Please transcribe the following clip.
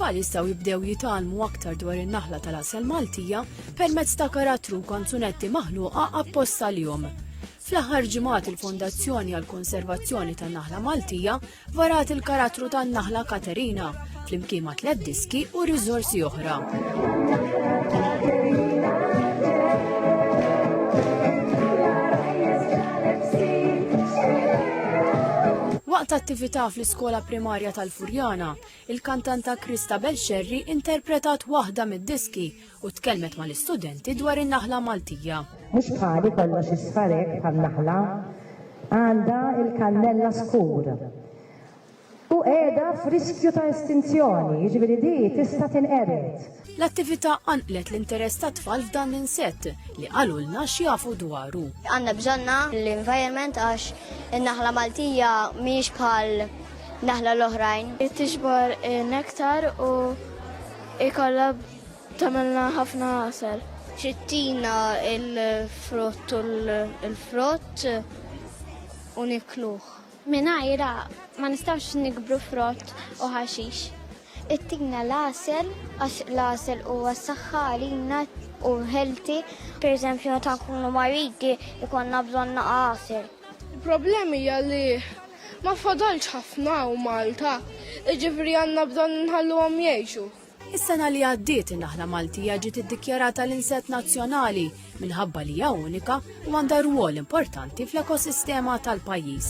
it-tfal jistgħu jibdew jitgħallmu aktar dwar in-naħla tal-asel Maltija permezz ta' karattru u kanzunetti maħluqa apposta lihom. Fl-aħħar ġimgħat il-Fondazzjoni għall-Konservazzjoni tan-Naħla Maltija varat il-karattru tan-naħla Katerina flimkien ma' tliet diski u riżorsi oħra. Waqt attività fl-iskola primarja tal-Furjana, il-kantanta Krista Belxerri interpretat waħda mid-diski u tkellmet mal-istudenti dwar in-naħla Maltija. Mhux bħali kollox isfarek bħal naħla għandha il-kannella skur. u qiegħda f'riskju ta' estinzjoni, jiġifieri di tista' tinqered. L-attività qanqlet l-interess tat-tfal f'dan l-insett li qalulna x'jafu dwaru. Għandna bżonnha l-environment għax in-naħla Maltija mhijiex bħal naħla l-oħrajn. Tiġbor nektar u jkollha tagħmilna ħafna għasel. Trittina l-frott u l-frott u nikluh. Mingħajrha ma nistgħux nikbru frott u ħaxix. Ittina l-għasel għax l-għasel huwa s-saħħa għalina u healthy. Pereżempju meta nkunu maridi jkollna bżonn naqa' għasel. Il-problem hija li ma fadalx ħafna u Malta, jiġifieri għandna bżonn inħalluhom jgħixu. Is-sena li għaddiet in-naħla Maltija ġiet iddikjarata l-insett nazzjonali minħabba li hija unika u għandha rwol importanti fl-ekosistema tal-pajjiż.